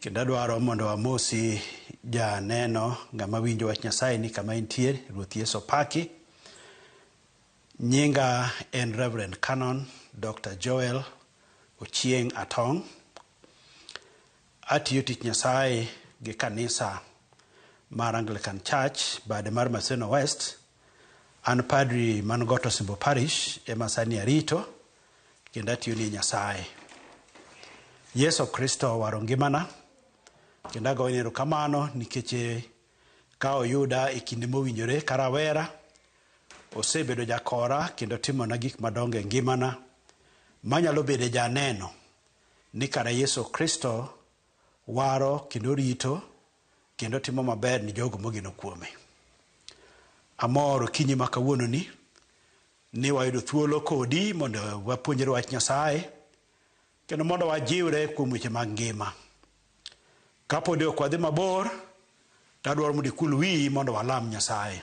Kendo adwaro mondo amosi janeno ng'ama winjo wach Nyasaye ni kama intie, Ruoth Yesu opaki. Nyinga en Reverend Canon Dr. Joel Ochieng' Atong'. Atiyo tich Nyasaye gi kanisa mar Anglican Church bade mar Maseno West. An padri man Got Osimbo Parish ema sani arito. kendo atiyo ni Nyasaye. Yesu Kristo owaro ngimana kendo agoyone erokamano nikech ka oyuda e kinde mowinjore ka rawera osebedo jakora kendo timona gik madongo e ngimana manyalo bedo janeno ni kara Yesu Kristo waro kendo rito kendo timo maber ni jogo mogeno kuome. Amor okinyi ma kawuononi Ni wayudo thuolo kodi mondo wapuonjre wach Nyasaye kendo mondo wajiwre kuom weche mag ngima. Kapodi ok wadhi mabor, to adwaro mondo ikul wiyi mondo walam Nyasaye.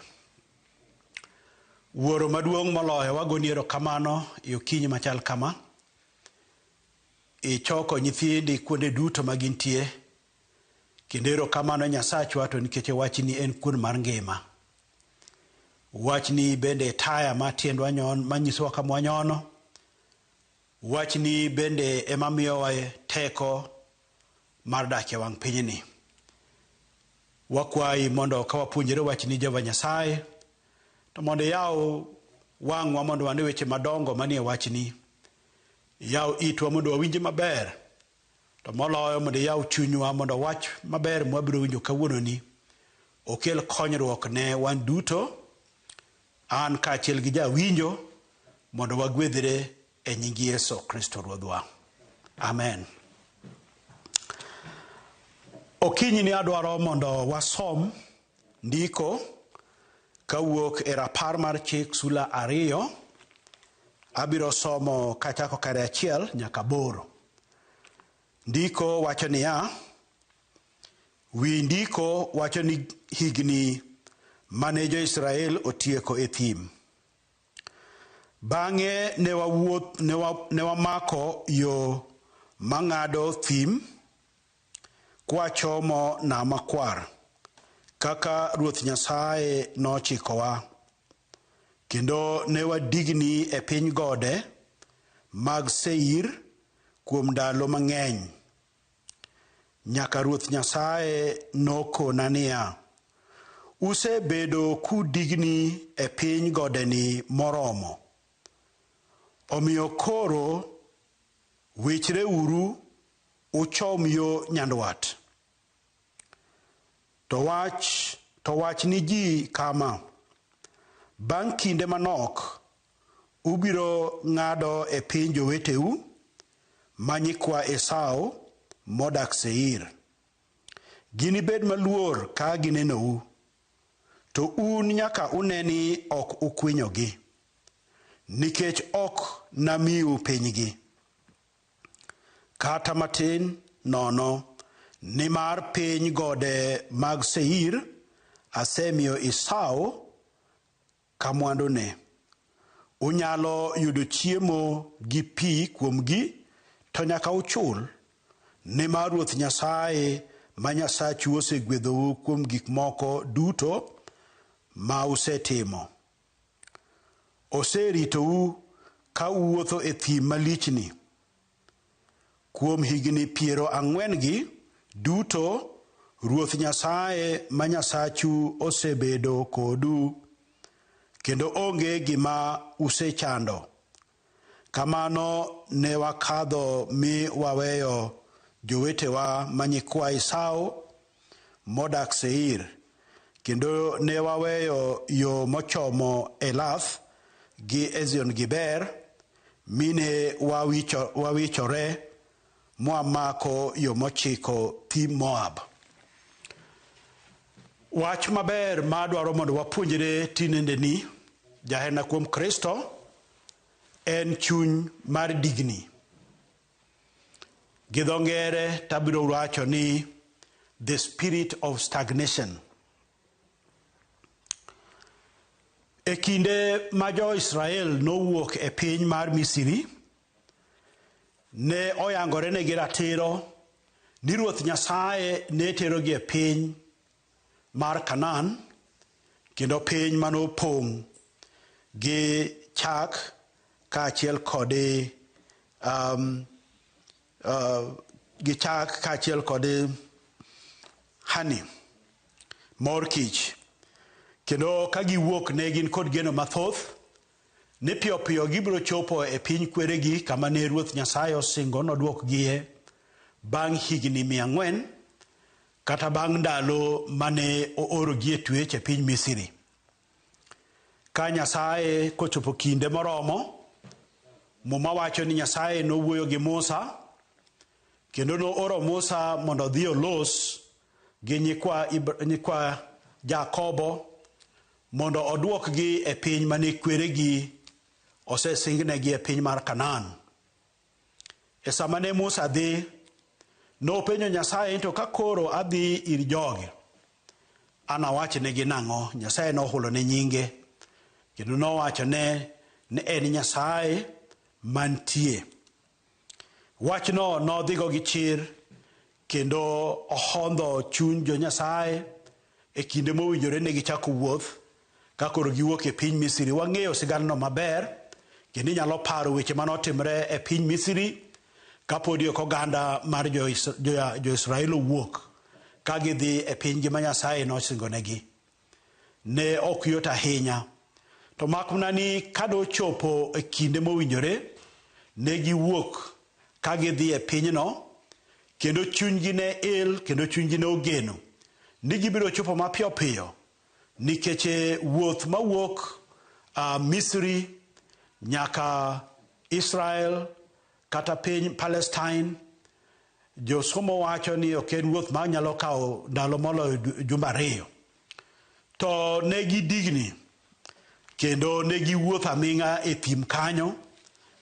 Wuoro maduong' moloyo wagoni erokamano e okinyi machal kama. Ichoko nyithindi kuonde duto ma gintie Kendo erokamano Nyasachwa to nikech e wachni en kuon mar ngima. Wachni bende e taya ma tiendwa nyon manyisowa kama wanyono. Wachni bende ema miyowa teko mar dak e wang' pinyni. Wakwayi mondo ka wapuonjore wachni Jehova Nyasaye to mondo iyaw wang'wa mondo wane weche madongo manie wachni. Iyaw itwa mondo wawinje maber To moloyo mondo iyaw chunywa mondo wach maber mwabiro winjo kawuononi okel konyruok ne wan duto, an kaachiel gi jawinjo, mondo wagwedhre e nying Yesu Kristo Ruodhwa. Amen. Okinyini adwaro mondo wasom Ndiko kawuok e Rapar mar Chik sula ariyo, abiro somo kachako kare achiel nyaka aboro. Ndiko wacho niya, wi ndiko wacho ni higni mane jo-Israel otieko e thim. Bang'e ne wawuoth ne wamako yo mang'ado thim Kwachomo Nam Makwar, kaka Ruoth Nyasaye nochikowa, kendo ne wadigni e piny gode mag Seir kuom ndalo mang'eny, nyaka Ruoth Nyasaye nokona niya, Usebedo kudigni e piny godeni moromo, omiyo koro wichreuru uchom yo nyandwat. To wach, to wach ni ji kama, 'Bang' kinde manok ubiro ng'ado e piny joweteu ma nyikwa Esau modak Seir. Ginibed maluor ka ginenou, to un nyaka une ni ok ukwinyogi, nikech ok namiu pinygi. Kata matin nono, nimar piny gode mag Seir asemiyo Esau ka mwandune. Unyalo yudo chiemo gi pi kuomgi, to nyaka uchul, nimar Ruoth Nyasaye ma Nyasachu osegwedhou kuom gik moko duto ma usetimo. Oseritou ka uwuotho e thim malichni kuom higni piero ang'wen-gi duto Ruoth Nyasaye ma Nyasachu osebedo kodu, kendo onge gima usechando. Kamano ne wakadho mi waweyo jowetewa ma nyikwa Esau modak Seir, kendo ne waweyo yo mochomo Elath gi Ezion-geber, mi ne wawichore mwa mako yo mochiko thi Moab. Wach maber ma adwaro mondo wapuonjre tinendeni, jaherna kuom Kristo, en chuny mar digni. Gi dho ngere tabiro wacho ni the spirit of stagnation. E kinde ma jo-Israel nowuok e piny mar Misri Ne oyangorenegi ratiro ni Ruoth Nyasaye ne terogi e piny mar Kanaan, kendo piny mane opong' gi chak kaachiel kod um, uh, gi chak kaachiel kod honey, mor kich. Kendo ka giwuok ne gin kod geno mathoth Ni piyopiyo gibiro chopo e piny kweregi kama ne Ruoth Nyasaye osingo nodwokgie bang' higni mia ang'wen, kata bang' ndalo mane oorogi e twech e piny Misri. Ka Nyasaye kochopo kinde moromo, Muma wacho ni Nyasaye nowuoyo gi Musa kendo nooro Musa mondo odhi olos gi nyikwa, nyikwa Jakobo Mondo odwokgi e piny mane kweregi osesingnegi e piny mar Kanaan. E sama ne Musa dhi, nopenjo Nyasaye to ka koro adhi ir jogi, anawachnegi nang'o? Nyasaye nohulone nyinge kendo nowachone ni en Nyasaye mantie. Wachno nodhigo gi chir kendo ohondho chuny jo Nyasaye e kinde mowinjore ne gichako wuoth ka koro giwuok e piny Misri. Wang'eyo sigandno maber kendo inyalo paro weche ma notimre e piny Misri kapodi ok oganda mar Jo-Israel owuok ka gidhi e pinygi ma Nyasaye nosingonegi. ne ok yot ahinya, to mak mana ni ka nochopo e kinde mowinjore, ne giwuok ka gidhi e pinyno, kendo chunygi ne il kendo chunygi ne ogeno ni gibiro chopo mapiyo piyo nikech e wuoth mawuok uh, Misri nyaka Israel Kata piny Palestine, josomo wacho ni ok en wuoth ma nyalo kawo ndalo moloyo jumbe ariyo. To ne gidigni kendo ne giwuotho aming'a e thim kanyo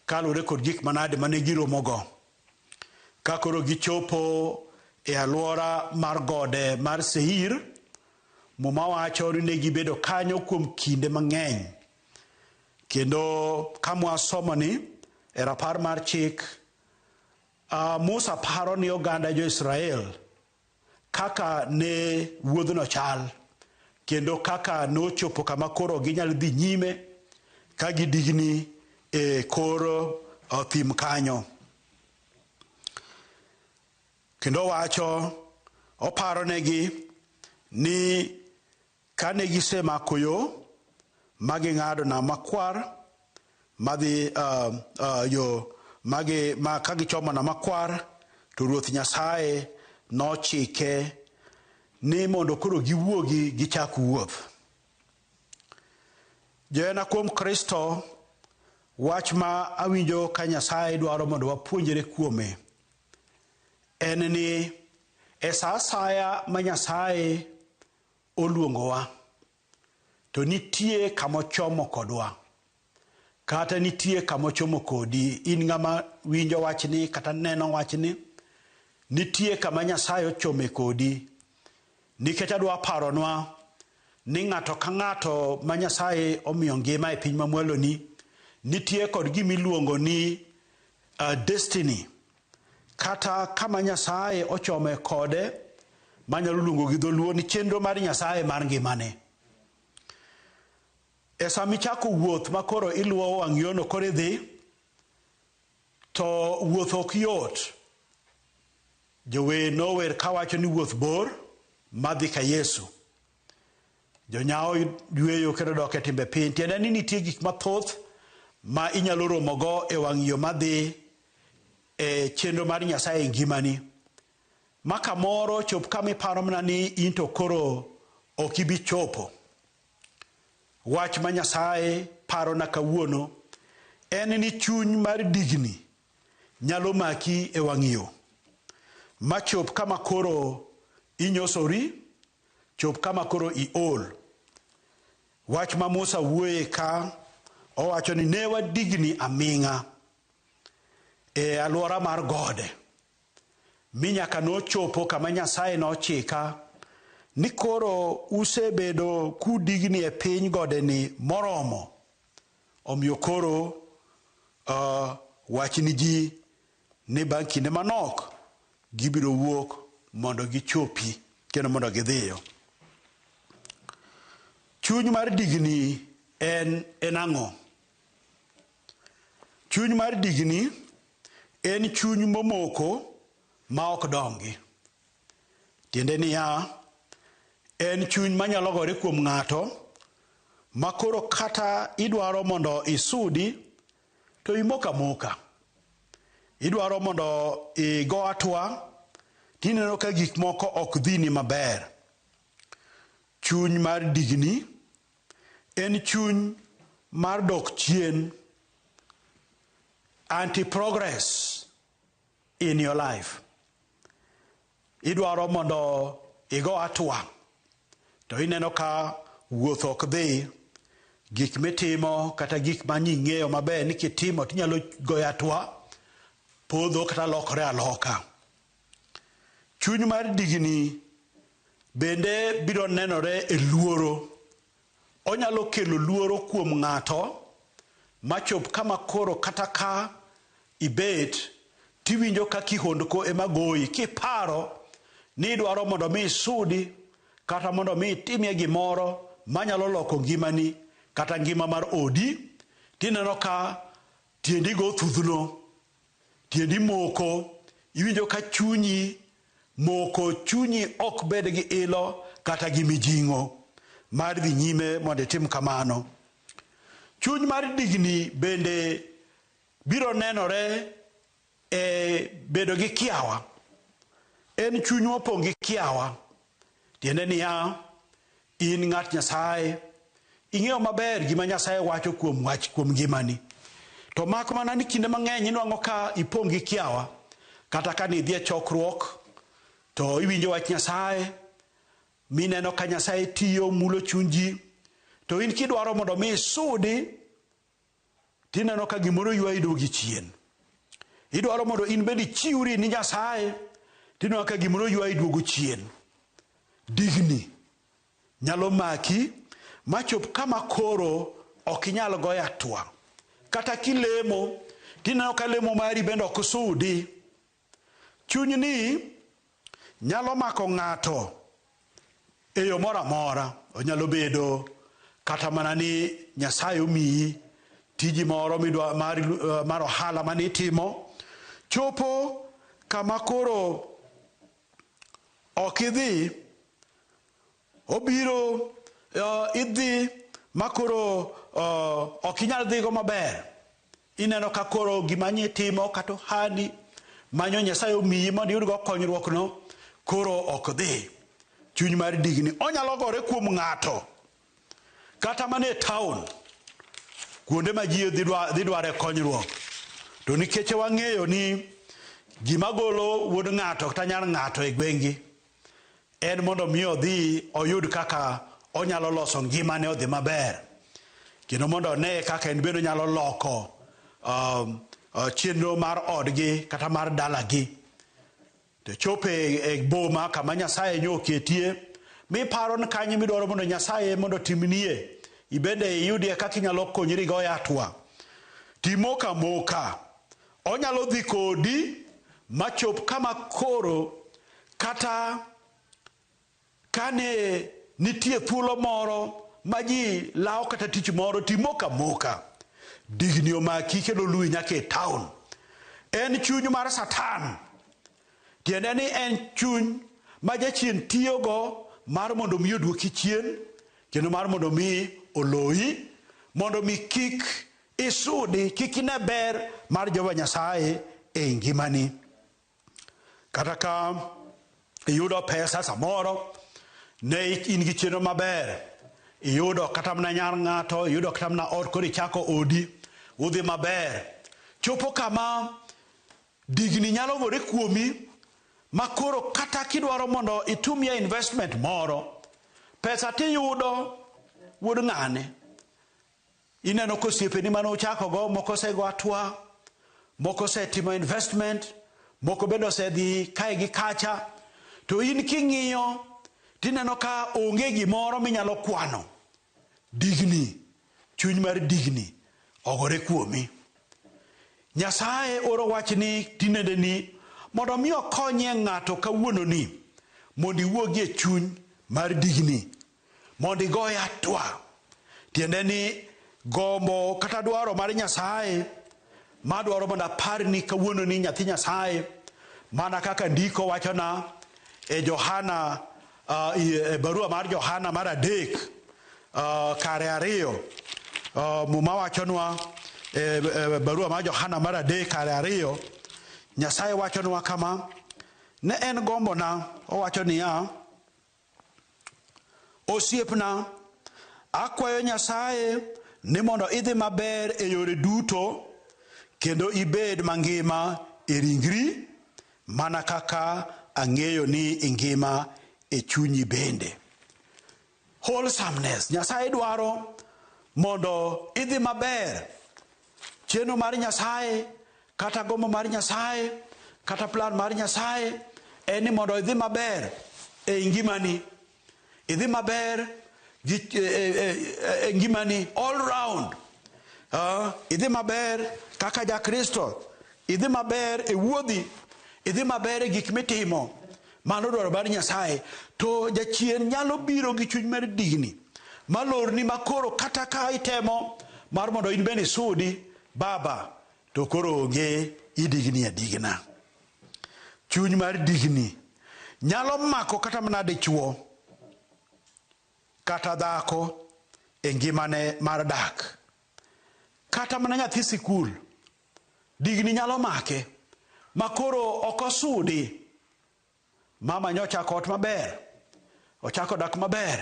kaluwore kod gik manade ma ne giromogo. Ka koro gichopo e alwora mar gode mar Seir, Muma wacho ni ne gibedo kanyo kuom kinde mang'eny Kendo ka mwasomo ni e rapar mar chik, uh, Musa paro ni oganda jo-Israel kaka ne wuodhno chal kendo kaka nochopo kama koro ginyalo dhi nyime ka gidigni e kor uh, thim kanyo. Kendo wacho oparonegi ni Ka ne gisemako yo ma ging'ado Nam Makwar madhi uh, uh, yo magi, ma ka gichomo Nam Makwar to Ruoth Nyasaye nochike ni mondo koro giwuogi gichak wuoth. Johera kuom Kristo, wach ma awinjo ka Nyasaye dwaro mondo wapuonjre kuome en ni e sa asaya ma Nyasaye oluongowa to nitie kama ochomo kodwa kata nitie kama ochomo kodi in ng'ama winjo wachni kata neno wachni nitie kama Nyasaye ochome kodi nikech adwa paronwa ni ng'ato ka ng'ato ma Nyasaye omiyo ngima e piny mamwaloni nitie kod gima iluongo ni uh, destiny Kata kama Nyasaye ochome kode manyalo luongo gi dholuo ni chenro mar Nyasaye mar ngimane. E sama ichako wuoth ma koro iluwo wang' yono koro idhi to wuoth ok yot. Jower nower kawacho ni wuoth bor madhi ka Yesu. Jonyawo yueyo kendo dok e timbe piny. Tiende ni nitie gik mathoth ma inyalo romogo e wang' yo madhi e chenro mar Nyasaye e ngimani. Ma kamoro chop kama iparo mana ni in to koro ok ibi chopo. Wach ma Nyasaye parona kawuono en ni chuny mar digni nyalo maki e wang' yo. Ma chop kama koro inyosori Chop kama koro iol. Wach ma Musa wuoye ka owacho ni ne wadigni aming'a e alwora mar gode mi nyaka nochopo kama Nyasaye nochika ni koro usebedo kudigni e piny godeni moromo, omiyo koro uh, wachni ji ni bang' kinde manok gibiro wuok mondo gichopi kendo mondo gidhiyo. Chuny mar digni en en ang'o? Chuny mar digni en chuny momoko ma ok dongi. Tiende niya, en chuny manyalo gore kuom ng'ato ma koro kata idwaro mondo isudi To imoko amoka. Idwaro mondo igo atwa to ineno ka gik moko ok dhini maber. Chuny mar digni en chuny mar dok chien, anti progress in your life. Idwaro mondo igo atua, to ineno ka wuoth ok dhi, gik mitimo kata gik ma ing'eyo maber ni kitimo tinyalo goyo atua, podho kata lokore aloka. Chuny mar digni bende biro nenore e luoro. Onyalo kelo luoro kuom ng'ato ma chop kama koro kata ka ibet to iwinjo ka kihondko ema goyi kiparo ni idwaro mondo mi isudi kata mondo mi itimie gimoro manyalo loko ngimani kata ngima mar odi tineno ka tiendi go thudhno Tiendi moko, iwinjo ka chunyi moko, chunyi ok bed gi ilo kata gi mijing'o mar dhi nyime mondo itim kamano. Chuny mar digni bende biro nenore e bedo gi kiawa. En chuny mopong' gi kiawa, tiende niya, In ng'at Nyasaye, ing'eyo maber gima Nyasaye wacho kuom wach kuom ngimani. To mak mana ni kinde mang'eny inwang'o ka ipong' gi kiawa, kata ka nidhi e chokruok, to iwinjo wach Nyasaye, mineno ka Nyasaye tiyo, mulo chuny ji, to in kidwaro mondo mi isudi, tineno ka gimoro ywayi dogi chien. Idwaro mondo in bende ichiwri ni Nyasaye, tineno ka gimoro ywayi duogo chien. Digni nyalo maki machop kama koro ok inyal goyo atwa. Kata kilemo, tineno ka lemo mari bende ok sudi. Chunyni nyalo mako ng'ato e yo moro amora. Onyalo bedo kata mana ni Nyasaye omiyi tiji moro midwa mar, eh, mar ohala mane itimo chopo kama koro ok idhi Obiro uh, idhi ma koro uh, ok inyal dhigo maber. Ineno ka koro gima nye timo kata ohandi manyo Nyasaye omiyi mondo iyudgo konyruokno koro ok dhi. Chuny mar digni onyalo gore kuom ng'ato kata mana e taon kuonde ma ji dhi dware konyruok to nikech wang'eyo ni gima golo wuod ng'ato kata nyar ng'ato e gwengi en mondo mi odhi oyud kaka onyalo loso ngimane odhi maber kendo mondo one kaka en bende onyalo loko um, uh, chenro mar odgi kata mar dalagi to chopo e, e boma kama nyasaye nyo oketie miparo ni kanyo midwaro mondo nyasaye mondo timnie ibende iyudie kaka inyalo konyri go yatwa timoka moka Onyalo dhi kodi ma chop kama koro kata kane nitie thuolo moro ma ji lawo kata tich moro timoka moka digni omaki kendo oluwi nyaka e taon. En chuny mar Satan, tiende ni en chuny ma jachien tiyogo mar mondo mi oduoki chien kendo mar mondo mi oloyi mondo mi kik Isudi kik ine ber mar Jehova Nyasaye e ngimani. Kata ka iyudo pesa samoro ne in gi chenro maber, iyudo kata mana nyar ng'ato, iyudo kata mana ot koro ichako odi, udhi maber. Chopo kama digni nyalo gore kuomi ma koro kata kidwaro mondo itumie investment moro, pesa tiyudo wuod ng'ane. Ineno ka osiepeni mane uchakogo moko osego atwa, moko osetimo investment, moko bende osedhi kae gi kacha, to in king'iyo tineno ka onge gimoro minyalo kwano. Digni, chuny mar digni ogore kuomi. Nyasaye oro wach ni tinende ni mondo mi okonyie ng'ato kawuononi mondo iwuogi e chuny mar digni. mondo igoye atwa, tiende ni gombo kata dwaro mar Nyasaye madwaro mondo aparni kawuono ni nyathi Nyasaye mana kaka ndiko wachona e Johana uh, e barua mar Johana mar adek uh, kare ariyo uh, muma wachonwa e, e barua mar Johana mar adek kare ariyo Nyasaye wachonwa kama ne en gombona owacho niya Osiepna, akwayo Nyasaye ni mondo idhi maber e yore duto kendo ibed mangima e ringri mana kaka ang'eyo ni ingima e chunyi bende. Wholesomeness, Nyasaye dwaro mondo idhi maber Chenro mar Nyasaye kata gombo mar Nyasaye kata plan mar Nyasaye en ni mondo idhi maber e ngimani. Idhi maber gi e, e, e, e ngimani all round. Uh, idhi maber kaka ja Kristo. Idhi maber e wuodhi. Idhi maber e gik mitimo. Mano dwaro bad Nyasaye. To jachien nyalo biro gi chuny mar digni, malorni ma koro kata ka itemo mar mondo in bende isudi, baba, to koro onge idigni adigna. Chuny mar digni nyalo mako kata mana dichwo kata dhako e ngimane mar dak. Kata mana nyathi sikul Digni nyalo make ma koro ok osudi. Mama nyo ochako ot maber, ochako dak maber,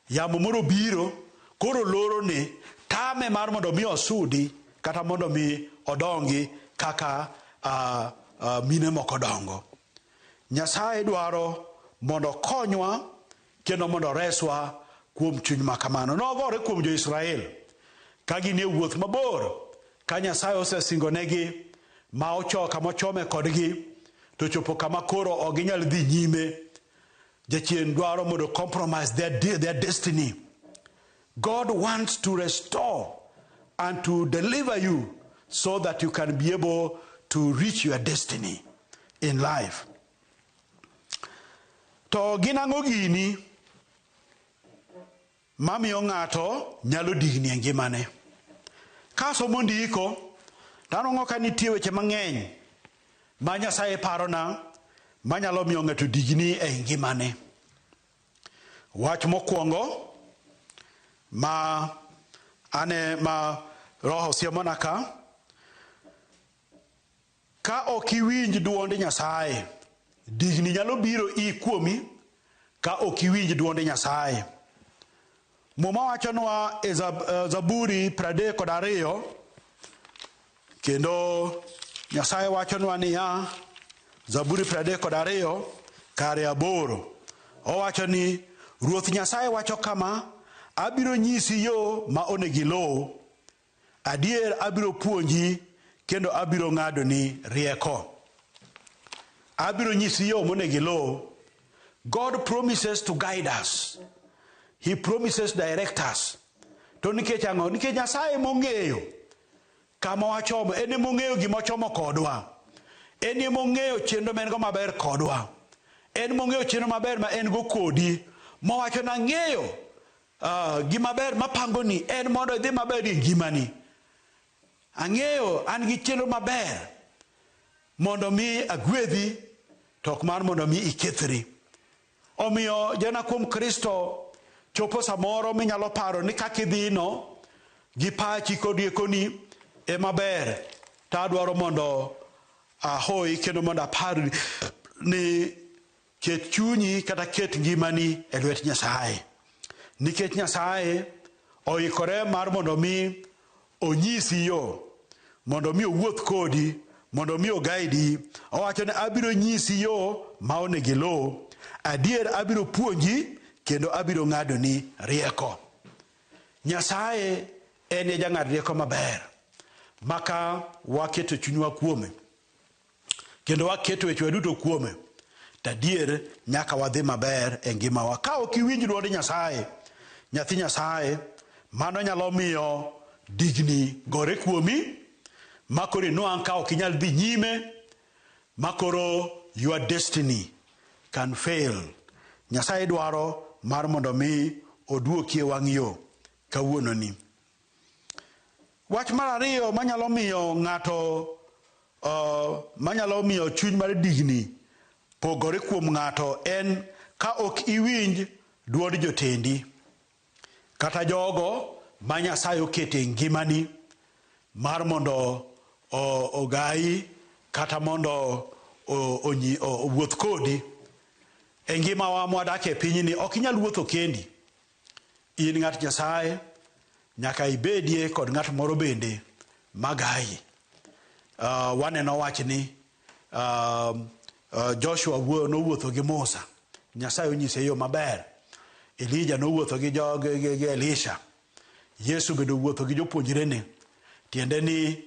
yamo moro obiro koro lorone, tame mar mondo mi osudi kata mondo mi odongi kaka a, a, mine moko dongo. Nyasaye dwaro mondo okonywa Kendo mondo oreswa kuom chuny ma kamano. Nogore kuom jo-Israel ka gin e wuoth mabor, ka Nyasaye osesingonegi, ma ochoko kama ochome kodgi, to chopo kama koro ok ginyal dhi nyime. Jachien dwaro mondo compromise their, de- their destiny. God wants to restore and to deliver you so that you can be able to reach your destiny in life. To gin ang'o gini mamiyo ng'ato nyalo digni e ngimane? Kasomo ndiko to anwang'o ka nitie weche mang'eny ma Nyasaye parona manyalo miyo ng'ato digni e ngimane. Wach mokwongo ma ane ma Roho siemona ka Ka ok iwinj dwond Nyasaye, digni nyalo biro i kuomi ka ok iwinj dwond Nyasaye. Muma wachonwa e eh, Zaburi pradek kod ariyo kendo Nyasaye wachonwa niya, Zaburi pradek kod ariyo kare aboro owacho ni Ruoth Nyasaye wacho kama, abiro nyisi yo ma onego iluw. Adier abiro puonji kendo abiro ng'adoni rieko. Abiro nyisi yo monego iluw. God promises to guide us. He promises direct us. To nikech ang'o? Nikech Nyasaye ema ong'eyo kama wachomo, en ema ong'eyo gima ochomo kodwa. En ema ong'eyo chenro ma en go maber kodwa. En ema ong'eyo chenro maber ma en go kodi. Mowacho nang'eyo Uh, gima ber mapangoni en mondo idhi maber e ngimani. Ang'eyo an gi chenro maber mondo mi agwedhi to ok mar mondo mi ikethri. Omiyo jana kuom Kristo chopo samoro minyalo paro ni kaka idhino gi pachi kod riekoni e maber to adwaro mondo ahoyi kendo mondo apar ni Ket chunyi kata ket ngimani e lwet Nyasaye, nikech Nyasaye oikore mar mondo mi onyisi yo, mondo mi owuoth kodi, mondo mi ogaidi. Owacho ni abiro nyisi yo ma onego iluw. Adier abiro puonji kendo abiro ng'adoni rieko. Nyasaye en e jang'ad rieko maber maka waketo chunywa kuome. kendo waketo wechewa duto kuome, to adier nyaka wadhi maber e ngimawa. Ka ok iwinj dwond Nyasaye, nyathi Nyasaye, mano nyalo miyo digni gore kuomi, ma koro inwang' ka ok inyal dhi nyime, ma koro your destiny can fail. Nyasaye dwaro mar mondo mi oduoki e wang' yo kawuononi. Wach mar ariyo manyalo miyo ng'ato uh, manyalo miyo chuny mar digni pogore kuom ng'ato en ka ok iwinj dwond jotendi kata jogo ma Nyasaye oketo e ngimani mar mondo ogayi kata mondo owuoth kodi e ngimawa mwadak e pinyni ok inyal wuotho kendi In ng'at Nyasaye, nyaka ibedie kod ng'at moro bende magayi. Uh, waneno wachni uh, uh, Joshua nowuotho gi Musa, Nyasaye onyise yo maber. Elija nowuotho gi, jo, gi, gi, gi Elisha. Yesu bende owuotho gi jopuonjrene. Tiende ni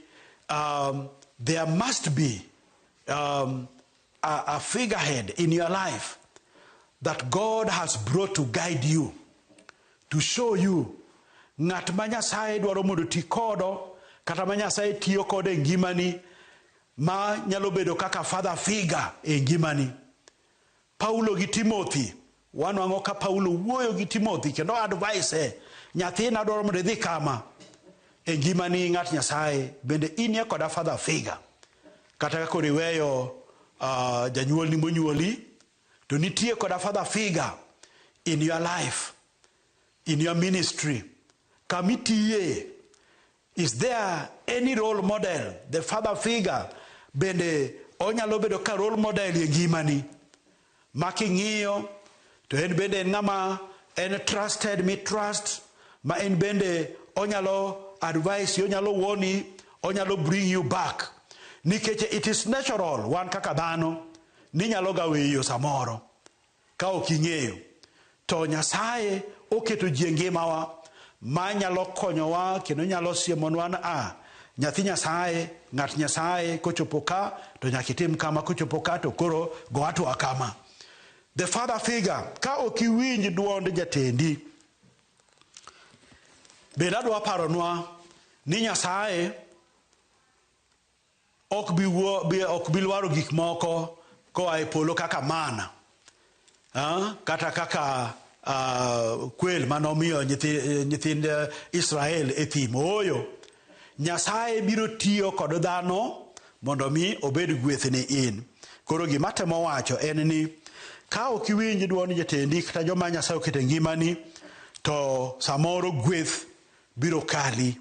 um, there must be um, a, a figurehead in your life that God has brought to guide you, to show you ng'at ma Nyasaye dwaro mondo ti kodo kata ma Nyasaye tiyo kodo e ngimani ma nyalo bedo kaka father figure e ngimani. Paulo gi Timothy Wanwang'o ka Paulo wuoyo gi Timothy kendo advise, nyathina adwaro mondo idhi kama e ngimani ng'at Nyasaye bende inie koda father figure. Kata ka koro iweyo uh, janyuolni monyuoli to nitie koda father figure in your life, in your ministry, kama itiye Is there any role model, the father figure bende onyalo bedo ka role model e ngimani ma king'iyo to en bende en ng'ama en trusted mi trust ma en bende onyalo advice you, onyalo woni, onyalo bring you back nikech it is natural wan kaka dhano ninyalo ga weyo samoro Ka ok ing'eyo, to Nyasaye oketo ji e ngimawa ma nyalo konyowa kendo nyalo siemonwa ni a, nyathi Nyasaye, ng'at Nyasaye kochopo ka to nyaka itim kama, kochopo ka to koro go hatua kama. The father figure, ka ok iwinj duond jatendi. Bende adwa paronwa ni Nyasaye Ok bi wuo, bi, ok bi lwaro gik moko koa e polo kaka manna, ah, kata kaka ah, kwel ma nomiyo nyithi, nyithind Israel e thim. Ooyo. Nyasaye biro tiyo kod dhano mondo mi obed gweth ni in. Koro gima atemo wacho en ni ka ok iwinj dwond jatendi kata joma Nyasaye oketo e ngimani to samoro gweth Biro kali.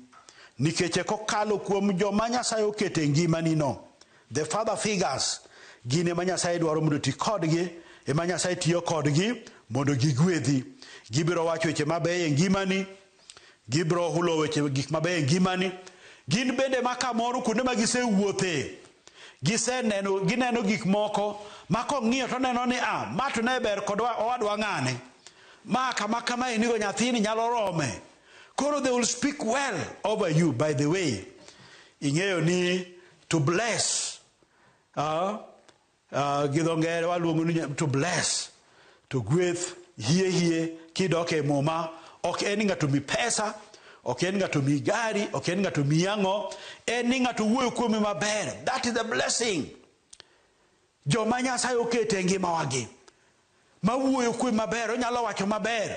Nikeche kokalo kuom joma Nyasaye oketo e ngimani no. The father figures. Gin ema Nyasaye dwaro mondo ti kodgi. Ema Nyasaye tiyo kodgi mondo gigwedhi. Gibiro wacho weche mabeyo e ngimani. Gibiro hulo weche gik mabeyo e ngimani. Gin bende ema kamoro kuonde ma gisewuothe. Giseneno, gineno gik moko ma kong'iyo to oneno ni a, ma to ne ber kod owadwa ng'ane. Ma kama kama enigo nyathini nyalo rome. Koro they will speak well over you by the way. Ing'eyo ni to bless. Uh, uh, gi dho ngere waluongo ni to bless. To gweth hie hie kidok e muma ok en ni ng'ato mi pesa, ok en ng'ato mi gari, ok en ng'ato mi ang'o, en ni ng'ato wuoyo kuome maber. That is the blessing. Joma Nyasaye oketo e ngimawagi ma wuoyo kuome maber, onyalo wacho maber.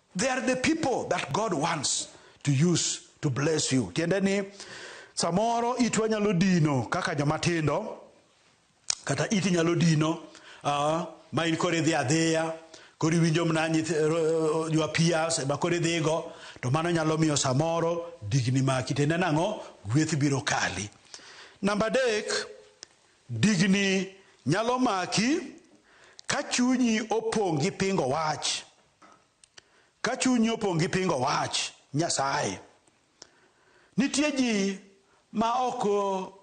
They are the people that God wants to use to bless you. Tiende ni samoro itwa nyalo dino kaka joma tindo kata iti nyalo dino uh, ma in koro idhi adhiya koro iwinjo mna your peers ema koro idhigo to mano nyalo miyo samoro digni maki tiende nang'o gweth biro kali. Namba adek digni nyalo maki ka chunyi opong' gi pingo wach. Ka chunyi opong' gi pingo wach Nyasaye, nitie ji ma ok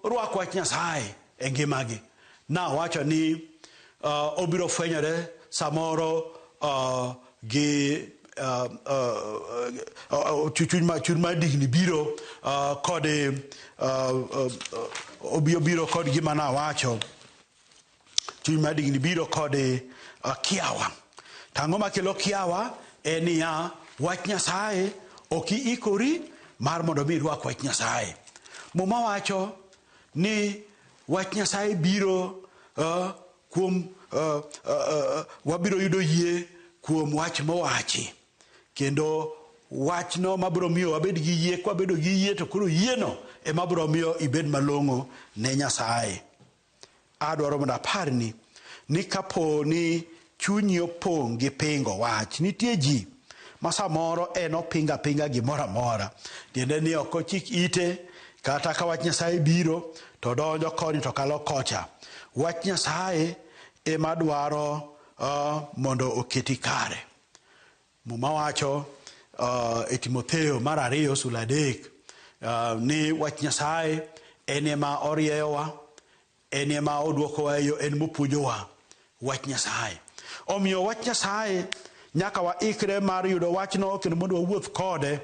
rwak wach Nyasaye e ngimagi. Nawacho ni uh, obiro fwenyore samoro uh, gi uh, uh, uh, chuny ma chuny ma digni biro uh, kod uh, uh, uh, obiro kod gima nawacho Chuny mar digni biro kod eh, kiawa. To ang'o makelo kiawa? En niya, wach Nyasaye ok iikori mar mondo mi irwak wach Nyasaye. Muma wacho ni wach Nyasaye biro eh, kuom eh, eh, eh, wabiro yudo yie kuom wach mowachi kendo wachno mabiro miyo wabed gi yie kwabedo gi yie to koro yieno ema biro miyo ibed malong'o ne nyasaye Adwaro mondo aparni ni kapo ni chunyi opong' gi pingo wach, nitie ji ma samoro en opingo apinga gimoro amora, tiende ni ok ochik ite kata ka wach Nyasaye biro to donjo koni to kalo kocha. Wach Nyasaye ema dwaro uh, mondo oketi kare. Muma wacho uh, e Timotheo mar ariyo sula adek uh, ni wach Nyasaye en ema orieyowa, en ema oduokowa eyo, en mopuonjowa wach Nyasaye. Omiyo wach Nyasaye nyaka waikre mar yudo wachno kendo mondo wawuoth kode.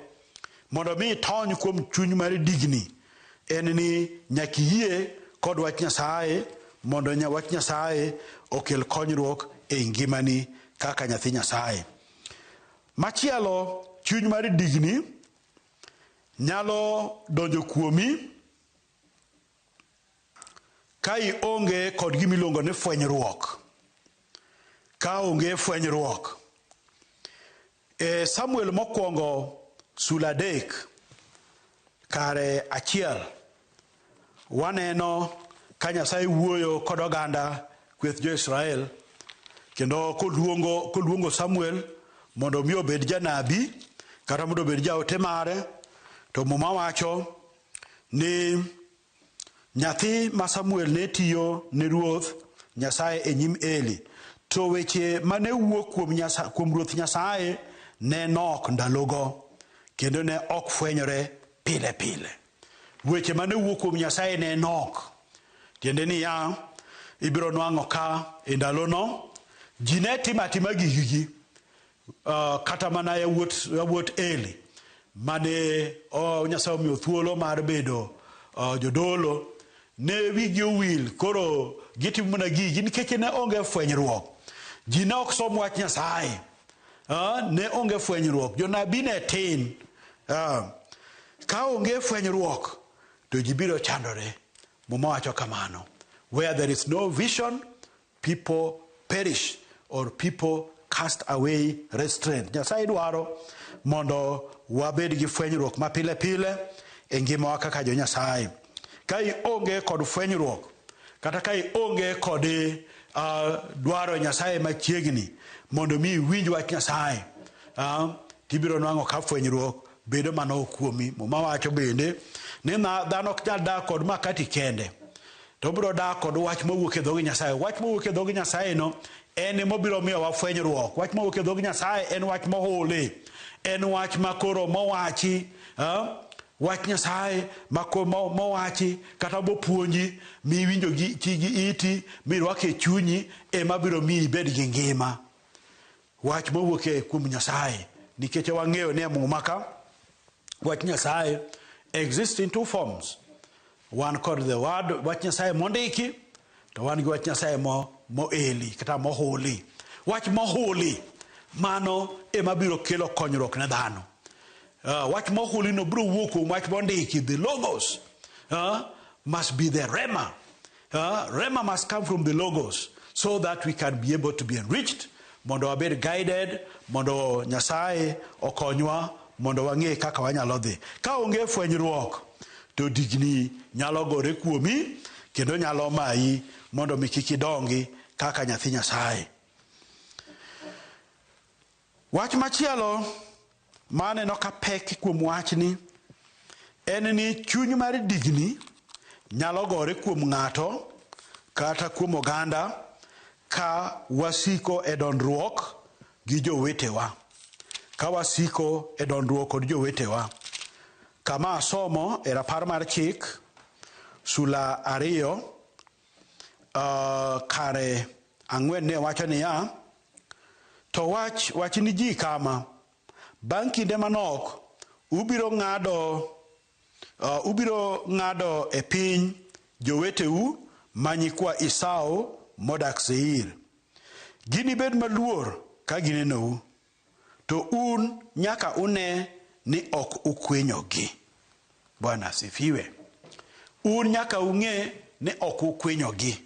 Mondo mi itony kuom chuny mar digni en ni nyaka iyie kod wach Nyasaye mondo nya wach Nyasaye okel konyruok e ngimani kaka nyathi Nyasaye. Machielo chuny mar digni nyalo donjo kuomi ka ionge kod gima iluongo ni fwenyruok. Ka onge fwenyruok E Samuel mokwongo sula adek kare achiel waneno ka Nyasaye wuoyo kod oganda kweth jo-Israel kendo koluongo, koluongo Samuel mondo mi obed janabi kata mondo obed jaote mare to muma wacho ni Nyathi ma Samuel ne tiyo ne Ruoth Nyasaye e nyim Eli, to weche ma ne wuok kuom, Nyasa, kuom Ruoth Nyasaye ne nok ndalogo, kendo ne ok fwenyore pile pile. Weche ma ne wuok kuom Nyasaye ne nok, tiende niya, ibiro nwang'o ka e ndalono ji ne timo atima gigigi, Uh, kata mana yawuot yawuot Eli mane oh, Nyasaye omiyo thuolo mar bedo uh, jodolo ne wigi owil koro gitimo mana gigi nikech ne onge fwenyruok ji ne ok som wach Nyasaye uh, ne onge fwenyruok jonabi ne tin uh, ka onge fwenyruok to ji biro chandore muma wacho kamano where there is no vision People perish or people cast away restraint. Nyasaye dwaro mondo wabed gi fwenyruok ma pile pile e ngimawa kaka jo Nyasaye. Ka ionge kod fwenyruok kata ka ionge kod uh, dwaro Nyasaye machiegni mondo mi iwinj wach Nyasaye uh, tibiro nwang'o ka fwenyruok bedo mana okuomi. Muma wacho bende ni dhano ok nyal dak kod makati kende. To obiro dak kod wach mowuok e dhoge Nyasaye. Wach mowuok e dhoge Nyasaye no en ema obiro miyo wafwenyruok. Wach mowuok e dhoge Nyasaye en wach mohuli. En wach makoro mowachi. Uh, wach Nyasaye mowachi kata mopuonji miwinjo gi chigi iti mirwake e chunyi ema biro miyi ibed gi ngima wach mowuok e kuom Nyasaye nikech wang'eyo ni e muma ka wach Nyasaye exist in two forms Wan kod the word wach Nyasaye mondiki to wan gi wach Nyasaye mo moeli kata mohuli. Wach mohuli mano ema biro kelo konyruok ne dhano. Uh, wach mohuli no biro wuok kuom wach mondiki the logos uh, must be the rema. Uh, rema must come from the logos so that we can be able to be enriched Mondo wabed guided, mondo Nyasaye okonywa mondo wang'e kaka wanyalo dhi. Ka onge fwenyruok to digni nyalo gore kuomi kendo nyalo mayi mondo mi kik idongi kaka nyathi Nyasaye. Wach machielo Ma aneno ka pek kuom wachni en ni chuny mar digni nyalo gore kuom ng'ato kata kuom oganda ka wasiko e dondruok gi jowetewa. Ka wasiko e dondruok kod jowetewa. Kama asomo e rapar mar chik sula ariyo Uh, kare ang'wen ne wacho niya, To wach, wach ni ji kama, bang' kinde manok ubiro ng'ado uh, ubiro ng'ado e piny joweteu ma nyikwa Esau modak Seir. Ginibed maluor ka ginenou. To un nyaka une ni ok ukwenyogi. Bwana asifiwe. Un nyaka ung'e ni ok ukwenyogi.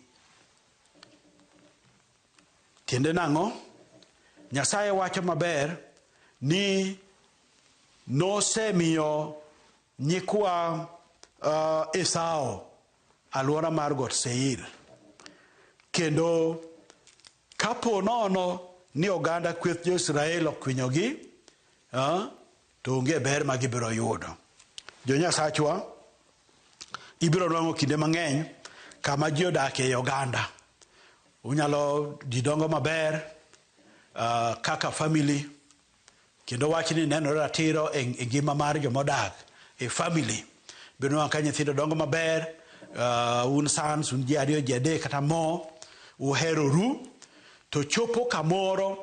Tiende nang'o? Nyasaye wacho maber ni nosemiyo nyikwa uh, Esau alwora mar got Seir. Kendo kapo nono ni oganda kweth jo-Israel okwinyogi, ah, to onge ber ma gibiro yudo. Jo-Nyasachwa, ibiro nwang'o kinde mang'eny kama ji odakie ei oganda. Unyalo, ji dongo maber ah, kaka family, Kendo wachni nenore ratiro e ngima mar joma odak e family. Biro nwango' ka nyithindo dongo maber, uh, un sons, un ji ariyo, ji adek kata mo, uhero ru, to chopo kamoro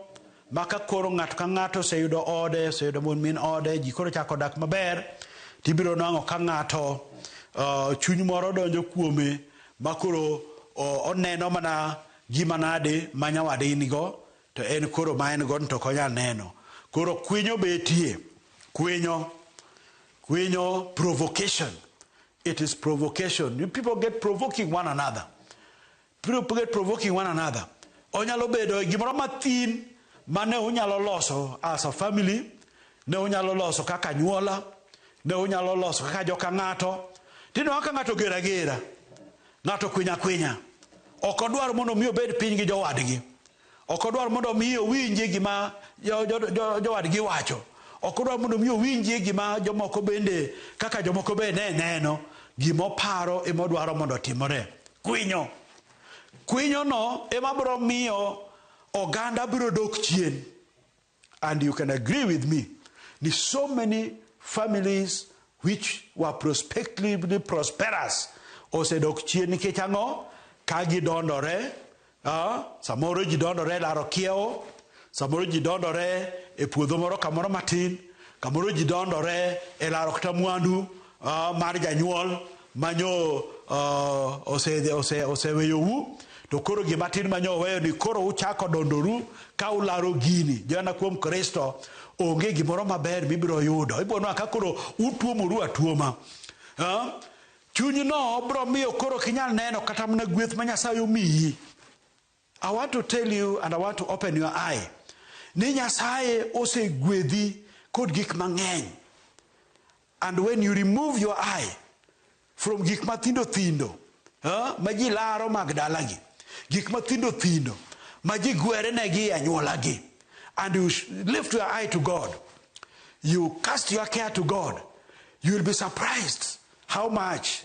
ma ka koro ng'ato ka ng'ato oseyudo ode, oseyudo mon min ode, ji koro chako dak maber, to ibiro nwango' ka ng'ato uh, chuny moro donjo kuome ma koro oneno mana gima nade ma nyawadgi nigo To en koro ma en gon to ok onyal neno. Koro kwinyo betie. Kwinyo. Kwinyo provocation. It is provocation. You people get provoking one another. People get provoking one another. Onyalo bedo gimoro mathin mane unyalo loso as a family, ne unyalo loso kaka nyuola, ne unyalo loso kaka joka ng'ato. Tino kaka ng'ato gera gera. Ng'ato kwiny akwinya ok odwar mondo omi obed piny gi jowadgi. Ok odwar mondo omi owinjie gima jowadgi wacho. Ok odwar mondo omi owinjie gima jomoko bende kaka jomoko be ne neno. Gima oparo ema odwaro mondo otimore. Kwinyo. Kwinyono ema biro miyo oganda biro dok chien. And you can agree with me, ni so many families which were prospectively prosperous osedok chien nikech ang'o ka gidondore uh, samoro ji dondore laro kiewo samoro ji dondore e puodho moro kamoro matin kamoro ji dondore e laro kata mwandu uh, mar janyuol manyo uh, oseweyo ose, ose wu to koro gima tin manyo oweyo ni koro uchako dondoru ka ularo gini joana kuom kristo onge gimoro maber mibiro yudo ibiro nwa ka koro utuomoru atuoma uh, chunyno biro miyo koro kinyal neno kata mana gweth ma nyasaye omiyi I want to tell you and I want to open your eye ni Nyasaye osegwedhi kod gik mang'eny and when you remove your eye from gik mathindo thindo uh, ma ji laro mag dalagi gik mathindo thindo ma ji gwerenegi e anyuolagi and you lift your eye to God you cast your care to God you will be surprised how much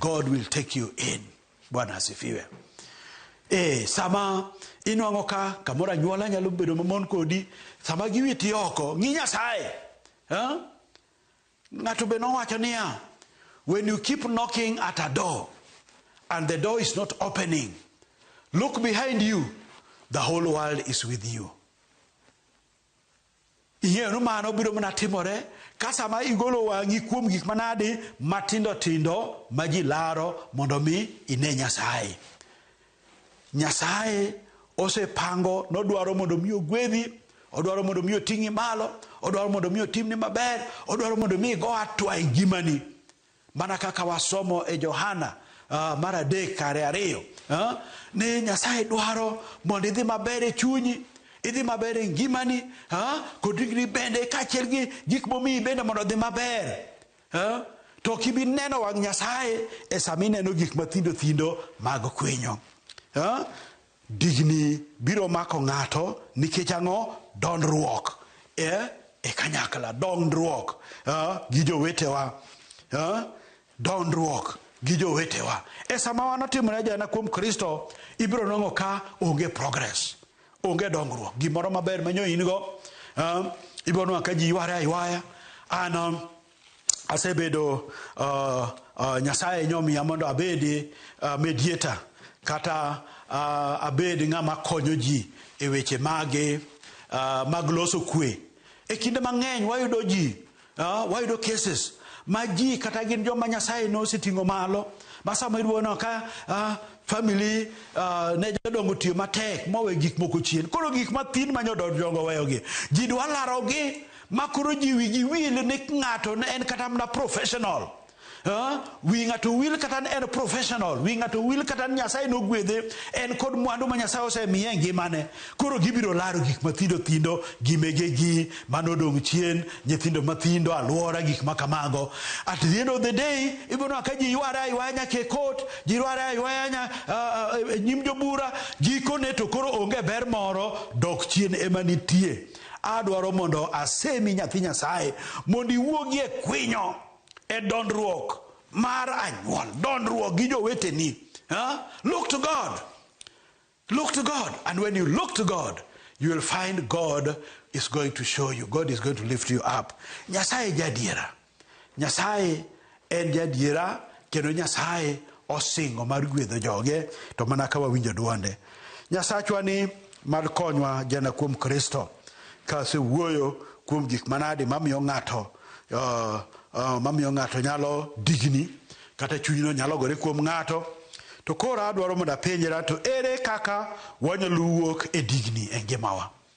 God will take you in. Bwana asifiwe. E, sama inwang'o ka kamoro anyuola nyalo bedo mamon kodi, sama giwiti oko, ng'i Nyasaye. Huh? Ng'ato be nowacho niya, when you keep knocking at a door and the door is not opening, look behind you, the whole world is with you. Ing'eyo ni mano biro mana timore ka sama igolo wang'i kuom gik manadi matindo tindo ma ji laro mondo mi ine Nyasaye. Nyasaye osepango nodwaro mondo mi ogwedhi, odwaro mondo mi oting'i malo, odwaro mondo mi otimni maber, odwaro mondo mi igo atwa e ngimani. Mana kaka wasomo e Johana uh, mar adek kare ariyo uh, ni Nyasaye dwaro mondo idhi maber e chunyi idhi maber e ngimani uh, kod ringri bende kaachiel gi gik momiyi bende mondo odhi maber uh, to kibi neno wang' Nyasaye e sama ineno gik mathindo thindo mag kwinyo uh, Digni biro mako ng'ato nikech ang'o? Dondruok e, e kanyakla, dondruok e, gi jowetewa e, dondruok gi jowetewa. E sama wan otimore ajana kuom Kristo, ibiro nong'o ka onge progress, onge dongruok. Gimoro maber manyo in go, e, ibiro nong'o ka ji yware aywaya. An asebedo uh, uh, Nyasaye nyomiya mondo abedi uh, mediator kata uh, abed ng'ama konyo ji e weche mage uh, mag loso kwe. E kinde mang'eny wayudo ji uh, wayudo cases ma ji kata gin joma Nyasaye noseting'o malo ma sama iduono ka uh, family uh, ne jodongo tiyo matek mowe gik moko chien koro gik mathin ma nyodongo weyogi ji dwa larogi ma koro ji wigi wil ni ng'ato ne en kata mana professional wi ng'ato wil kata en professional wi ng'ato wil kata nyasaye nogwedhe en kod mwandu ma nyasaye osemiye e ngimane koro gibiro laro gik mathindo thindo gimegegi manodong' chien nyithindo mathindo alwora gik ma kamago at the end of the day ibonwa ka ji yware aywaya nyaka e kot ji yware aywaya nya e nyim jobura gikone to koro onge ber moro dok chien ema nitie Adwaro mondo asemi nyathi Nyasaye mondo iwuogi e kwinyo e dondruok mar anyuol, dondruok gi joweteni. Huh? Look to God. Look to God. And when you look to God, you will find God is going to show you. God is going to lift you up. Nyasaye jadiera. Nyasaye en jadiera kendo Nyasaye osingo mar gwedho joge to mana ka wawinjo dwonde. Nyasachwa ni mar konywa jana kuom Kristo ka asewuoyo kuom gik manade mamiyo ng'ato uh, uh, mamiyo ng'ato nyalo digni kata chunyno nyalo gore kuom ng'ato to koro adwaro mondo apenjra to ere kaka wanyalo wuok e digni e ngimawa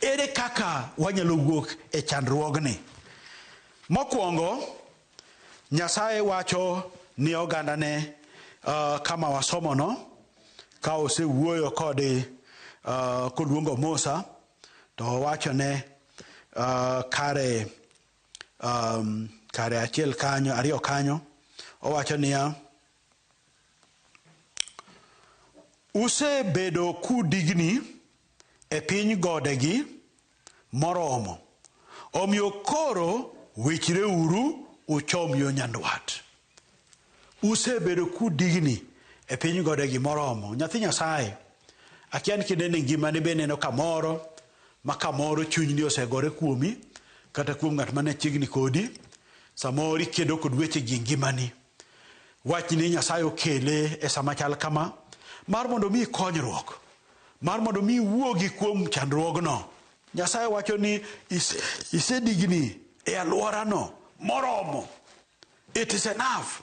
Ere kaka wanyalo wuok e chandruogni? Mokwongo, Nyasaye wacho ni ogandane uh, kama wasomono ka osewuoyo kode uh, koluongo Musa to owachone uh, kare um, kare achiel kanyo ariyo kanyo owacho niya usebedo kudigni e piny godegi moromo, omiyo koro wichreuru uchom yo nyandwat. Usebedo kudigni e piny godegi moromo. Nyathi Nyasaye, akia ni kinde ni ngimani be neno kamoro ma kamoro chunyni osegore kuomi kata kuom ng'at mane chiegni kodi. Samoro ikedo kod weche gi ngimani. Wachni Nyasaye okele e sama chal kama mar mondo omi konyruok, mar mondo omi wuogi kuom chandruogno. Nyasaye wacho ni isedigni e alworano moromo. It is enough.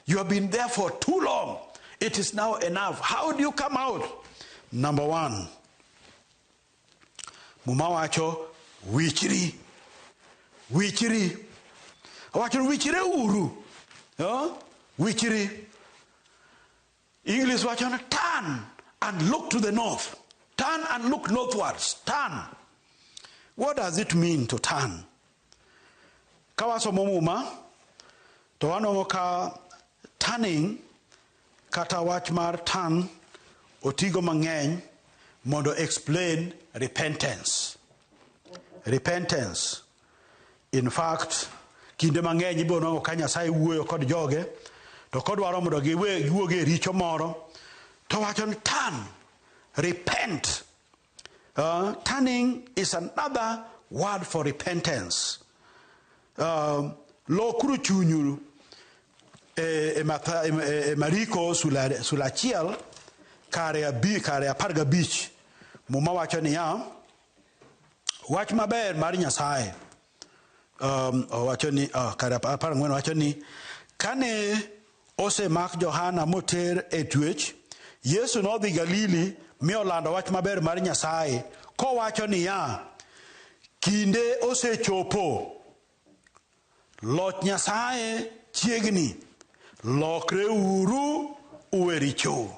You have been there for too long. It is now enough. How do you come out? Number one, Muma wacho wichri. Wichri. Wacho wichre uru. Huh? Wichri. English wacho ni turn and look to the north. Turn and look northwards. Turn. What does it mean to turn? Kawasomo muma to wanongo ka turning Kata wach mar turn otigo mang'eny mondo explain repentance. Repentance. In fact, kinde mang'eny ibiro nwango ka Nyasaye wuoyo kod joge to kodwaro mondo giwe giwuog e richo moro to wacho ni turn, repent. Uh, turning is another word for repentance. Um, lokuru chunyu e, e, matha, e, e, e Mariko sula, sula achiel kare abi kare apar gabich muma wacho niya wach maber mar Nyasaye um, owacho ni oh, kare apar ang'wen wacho ni kane osemak Johana moter e twech, Yesu nodhi Galili mi olando wach maber mar Nyasaye kowacho niya, kinde osechopo, loch Nyasaye chiegni, lokre uru uwe richou.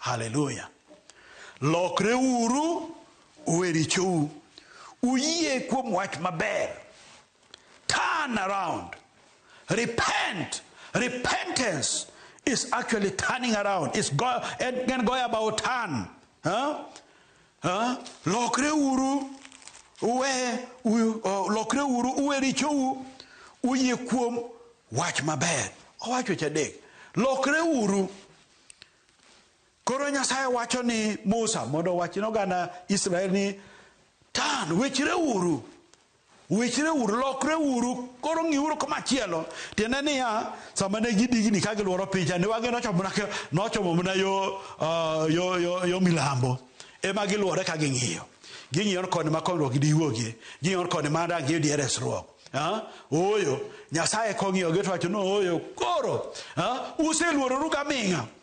Haleluya! Lokre uru Uwe richou. Uyie kuom wach maber. Turn around. Repent. Repentance is actually turning around. It's go, and can go about turn. Huh? Huh? Lokre uru. Uwe, u, uh, lokre uru. Uwe richou. Uyie kuom wach maber. Owacho chadek. Lokre uru. Koro Nyasaye wacho ni Musa mondo owach ne oganda Israel ni tan, wechreuru, wechreuru, lokreuru, koro ng'iuru komachielo. Tiende niya, sama ne gidigni ka gilworo picha, ne wang'e nochomo mana ka- nochomo mana yo, ah, yo, yo, yo milambo. Ema gilwore ka ging'iyo. Ging'iyo ni koni ma konyruok gidiwuogie. Ging'iyo ni koni ma dang' giyudie resruok. Ah, Ooyo, Nyasaye kong'iyogi to wacho ni ooyo, koro ah, useluororu gaming'a.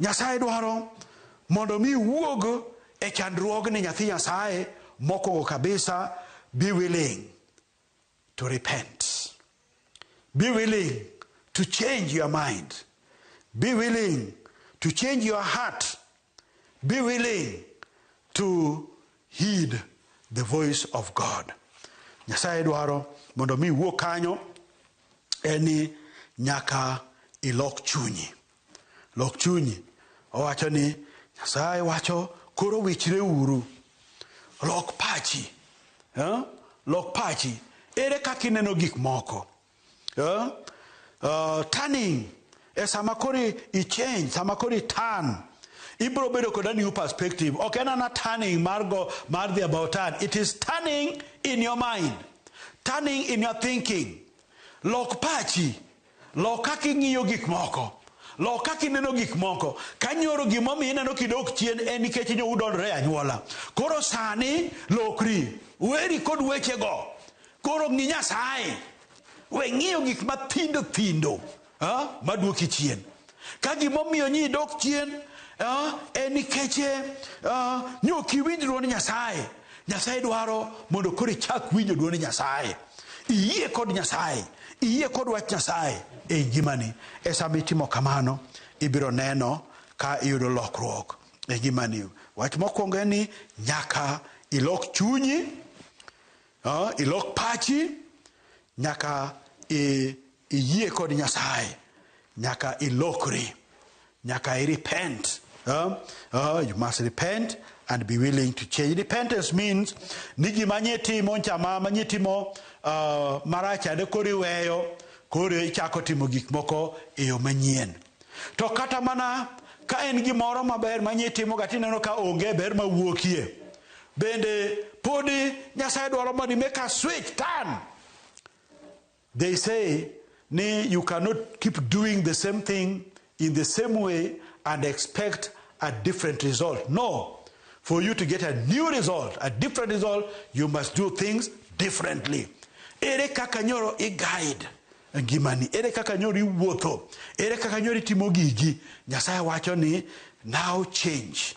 Nyasaye dwaro mondo mi iwuog e chandruogni nyathi Nyasaye mokwongo kabisa be willing to repent be willing to change your mind be willing to change your heart be willing to heed the voice of God Nyasaye dwaro mondo mi iwuog kanyo en ni nyaka ilok chunyi Lok chunyi. Owacho ni Nyasaye wacho koro wichre uru. Lok pachi. Eh? Lok pachi. Ere kaka ineno gik moko? Eh? Uh, turning. E sama koro i change, sama koro i turn. Ibro bedo kod a new perspective. Ok en ana turning mar go mar the about turn. It is turning in your mind. Turning in your thinking. Lok pachi. Lok kaka ing'iyo gik moko. Lok kaka ineno gik moko. Ka nyoro gimomiyo ineno kidok chien en nikech nyo udondore e anyuola. Koro sani lokri. Weri kod wechego. Koro ng'i Nyasaye. We ng'iyo gik mathindo thindo maduoki chien. Ka gimomiyo nyi dok chien uh, en nikech uh, ni ok iwinj dwond Nyasaye. Nyasaye dwaro mondo koro ichak winjo dwond Nyasaye. Iyie kod Nyasaye, iyie kod wach Nyasaye e ngimani. E sama itimo kamano, ibiro neno ka iyudo lokruok e ngimani. Wach mokwongo en ni nyaka ilok chunyi Uh, ilok pachi nyaka iyie kod Nyasaye, nyaka ilokri, nyaka i repent. Uh, uh, you must repent and be willing to change. Repentance means ni gima nye timo chama ma nye timo uh, marach ade kori weyo koro ichako timo gik moko e yo manyien. To kata mana ka en gimoro maber ma nye timo ga tineno ka onge ber ma wuokie. Bende podi Nyasaye dwaro mondo imake a switch turn. They say ni you cannot keep doing the same thing in the same way and expect a different result. No. For you to get a new result, a different result, you must do things differently. Ere kaka nyoro i guide ngimani ere kaka nyoro iwuotho ere kaka nyoro itimo gigi nyasaye wacho ni now change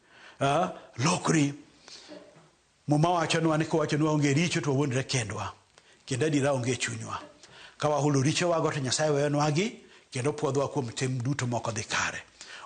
Ah, lokri. Muma wachonwa ni kowachonwa onge richo to wawuondre kendwa, kendo adiera onge e chunywa. Ka wahulo richowago to Nyasaye weyonwagi kendo pwodhowa kuom tim duto ma ok odhi kare.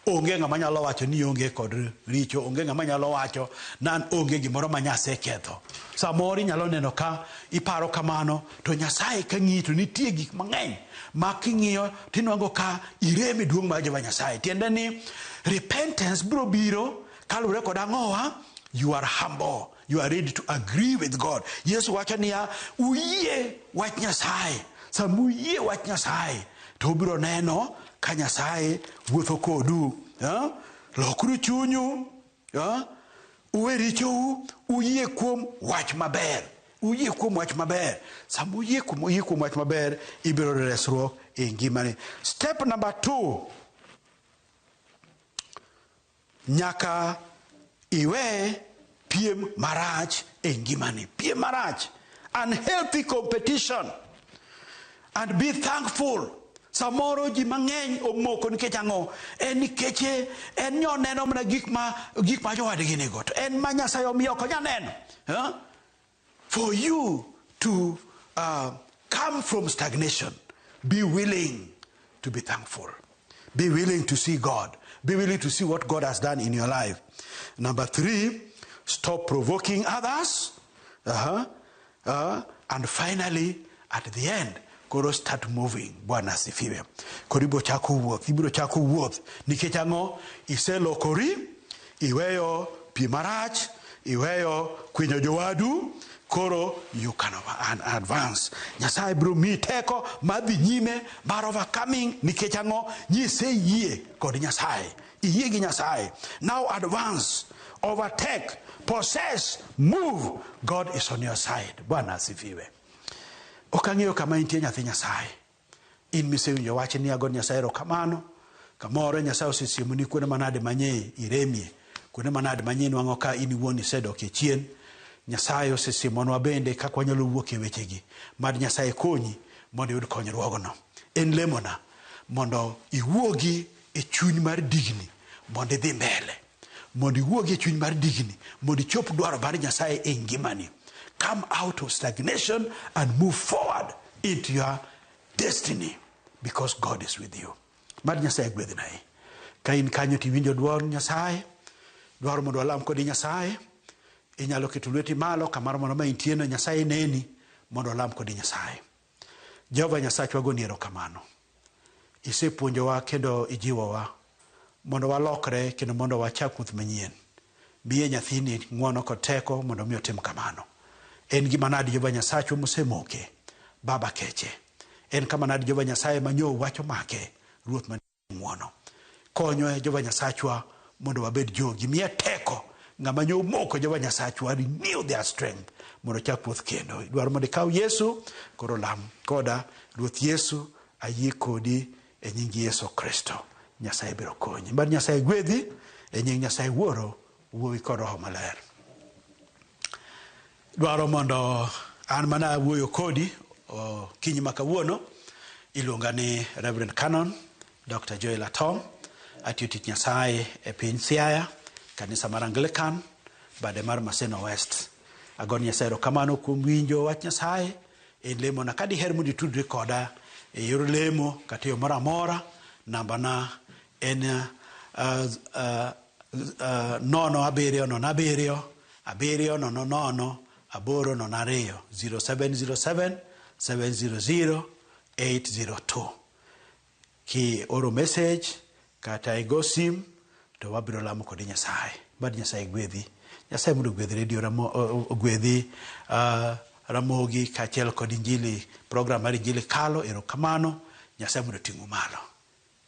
Onge ng'ama nyalo wacho ni onge kod richo, onge ng'ama nyalo wacho nan onge gimoro ma Nyasaye ketho. Samoro inyalo neno ka iparo kamano, To Nyasaye ka ng'iyi to nitie gik mang'eny ma king'iyo tinwango ka irem e duong' mar Jehova Nyasaye. Tiende ni repentance biro biro kaluwore kod ang'owa, you are humble, you are ready to agree with God. Yesu wacho niya, uyie wach Nyasaye. Sama uyie wach Nyasaye to ubiro neno ka Nyasaye wuotho kodu. Eh? Lokuru chunyu Ah, uwe richou uyie kuom wach maber uyie kuom wach maber sama uyie kuom uyie kuom wach maber ibiro yudo resruok e ngimani step number two nyaka iwe piem marach e ngimani piem marach unhealthy competition And be thankful. Samoro ji mang'eny omoko nikech ang'o? En nikech eh, en nyo neno mana gik ma gik ma jowadgi nigo. To en ma Nyasaye omiyo ok onya neno. Huh? For you to uh, come from stagnation, be willing to be thankful. Be willing to see God. Be willing to see what God has done in your life. Number three, stop provoking others. Uh-huh. Uh, and finally at the end koro start moving bwana asifiwe koro ibiro chako wuoth ibiro chako wuoth nikech ang'o iselokori iweyo pi marach iweyo kwinyo jowadu koro you can advance nyasaye biro miyi teko madhi nyime mar overcoming nikech ang'o nyise yie kod nyasaye Iyie gi Nyasaye. Now advance, overtake, possess, move. God is on your side. Bwana asifiwe. Ok ang'eyo kama intie nyathi Nyasaye. In misewinjo wach ni ago Nyasaye erokamano. Kamoro Nyasaye osesiemoni kuonde manade manye iremie, kuonde manade manye nwang'o ka in iwuon isedok e chien. Nyasaye osesiemonwa bende kaka wanyalo wuok e wechegi. Mad Nyasaye konyi mondo iyud konyruogno. En lemona mondo iwuogi e chuny mar digni mondo idhi mbele, mondo iwuogi e chuny mar digni mondo ichop dwaro mar Nyasaye e ngimani. Come out of stagnation and move forward into your destiny because God is with you. Mad Nyasaye gwedhi nae. Ka in kanyo to iwinjo dwol Nyasaye, dwaro mondo alam kodi Nyasaye, inyalo keto lweti malo kamaro mondo ma intieno Nyasaye neni mondo alam kodi Nyasaye. Jehova Nyasachwa goni erokamano. Isepuonjowa kendo ijiwowa mondo walokre kendo mondo wachak wuoth manyien. Miye nyathini ng'wono kod teko mondo omi otim kamano. En gima nadi Jehova Nyasachwa mosemoke? Baba keche. En kama nadi Jehova Nyasaye ma nyo wach omake? Ruoth man Ng'wono. Konyo e Jehova Nyasachwa mondo wabed jogi. Miye teko. Ng'ama nyo omoko e Jehova Nyasachwa, renew their strength mondo chak wuoth kendo. Idwaro mondo ikaw Yesu, koro lam koda. Ruoth Yesu, ayie kodi e nying Yesu Kristo. Nyasaye biro konyi. Mad Nyasaye gwedhi e nying Nyasaye Wuoro, Wuowi kod Roho Maler. Dwaro mondo an mana awuoyo kodi okinyi ma kawuono. Iluonga ni Reverend Canon Dr. Joel Atom. Atiyo tich Nyasaye e piny Siaya, kanisa mar Anglican, bade mar Maseno West. Agoni Nyasaye erokamano kuom winjo wach Nyasaye e lemona. Ka diher mondo itudri koda e yor lemo kata e yo moro amora, nambana en uh, uh, nono abiriyo nono abiriyo abiriyo nono nono aboro nono ariyo 0707 700 802 ki oro message kata igo sim to wabiro lamo kodi nyasaye bad nyasaye gwedhi nyasaye mondo ogwedhi redio ramo ogwedhi uh, ramogi kaachiel kod injili program mar injili kalo erokamano nyasaye mondo ting'u malo